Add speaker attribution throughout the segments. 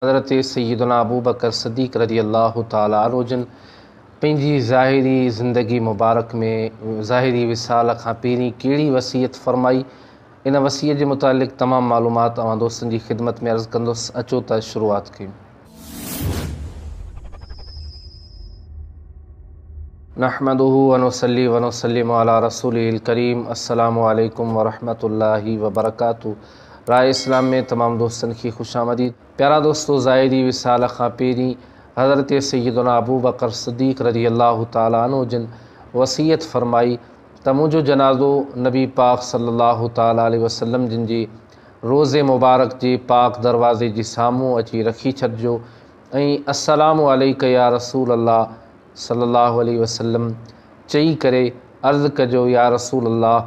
Speaker 1: حضرت سيدنا ابوبڪر صديق رضي الله تعالٰي عنه جن پنهنجي ظاهري زندگي مبارڪ ۾ ظاهري وصال کان پهرين ڪهڙي وصيت فرمائي، ان وصيت جي متعلق تمام معلومات اوهان دوستن جي خدمت ۾ عرض ڪندس، اچو ته شروعات ڪيون. نحمده ونصلي ونسلم علي رسوله الڪريم السلام عليڪم ورحمة الله وبرڪاته راء اسلام ۾ تمام دوستن کي خوش آمديد. پيارا دوستو ظاهري وصال کان پهرين حضرت سيدنا ابوبڪر صديق رضي الله تعالٰي عنه جن وصيت فرمائي ته منهنجو جنازو نبي پاڪ صلي الله تعالٰي عليه وسلم جن جي روضي مبارڪ جي پاڪ دروازي جي سامهون اچي رکي ڇڏجو ۽ السلام عليڪ يا رسول الله صلي الله عليه وسلم چئي ڪري عرض ڪجو يا رسول الله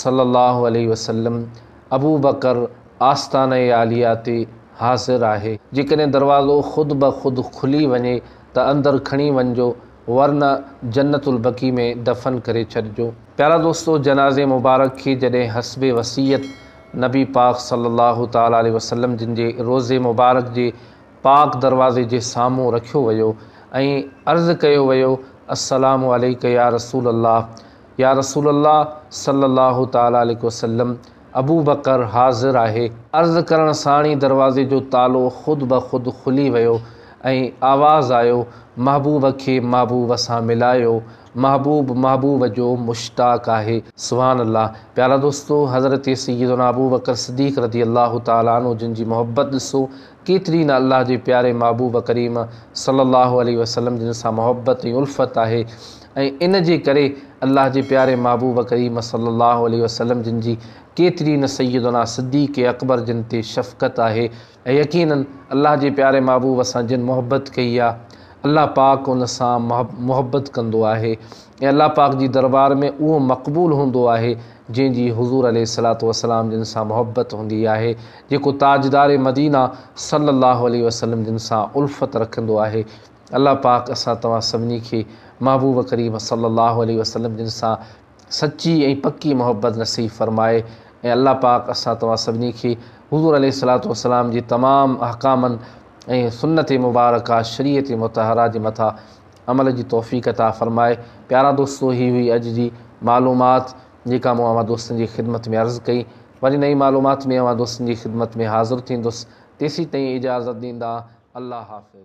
Speaker 1: صلّي اللّٰه عليه وسلّم ابوبڪر آستانه عاليه تي حاضر آهي، جيڪڏهن دروازو خود بخود کلي وڃي ته اندر کڻي وڃجو ورنه جنت البقيع ۾ دفن ڪري ڇڏجو. پيارا دوستو! جنازي مبارڪ کي جڏهن حسب وصيت نبي پاڪ صلّي اللّٰه تعالٰي عليه وسلّم جن جي روضي مبارڪ جي پاڪ دروازي جي سامهون رکيو ويو ۽ عرض ڪيو ويو السّلام عليڪ يا رسول اللّٰه! يا رسول الله صلّي الله تعالٰي عليه وسلّم ابو بڪر حاضر آهي. عرض ڪرڻ ساڻ ئي دروازي جو تالو خود بخود کلي ويو ۽ آواز آيو، محبوب کي محبوب سان ملايو، محبوب محبوب جو مشتاق آهي. سبحان الله پيارا دوستو حضرت سيدنا ابو بڪر صديق رضي الله تعالٰي عنه جن جي محبت ڏسو ڪيتري نه الله جي پياري محبوب ڪريم صلّي الله عليه وسلّم جن سان محبت ۽ الفت آهي ۽ ان جي ڪري الله جي پياري محبوب ڪريم صلّي اللّٰه عليه وسلّم جن جي ڪيتري نه سيّدنا صدّيق اڪبر جن تي شفقت آهي ۽ يقيناً الله جي پياري محبوب سان جن محبت ڪئي آ الله پاڪ ان سان محبت ڪندو آهي ۽ الله پاڪ جي دربار ۾ اهو مقبول هوندو آهي جنهن جي حضور عليه الصلّوة والسلّام جن سان محبت هوندي آهي جيڪو تاجدار مدينه صلّي اللّٰه عليه وسلّم جن سان الفت رکندو آهي الله پاڪ اسان توهان سڀني کي محبوب ڪريم صلي الله عليه وسلم جن سان سچي ۽ پڪي محبت نصيب فرمائي ۽ الله پاڪ اسان توهان سڀني کي حضور عليه الصلاة والسلام جي تمام احڪامن ۽ سنت مبارڪه شريعت مطهره جي مٿان عمل جي توفيق عطا فرمائي پيارا دوستو هي هئي اڄ جي معلومات جيڪا مون اوهان دوستن جي خدمت ۾ عرض ڪئي وري نئين معلومات ۾ اوهان دوستن جي خدمت ۾ حاضر ٿيندس تيسين تائين اجازت ڏيندا الله حافظ.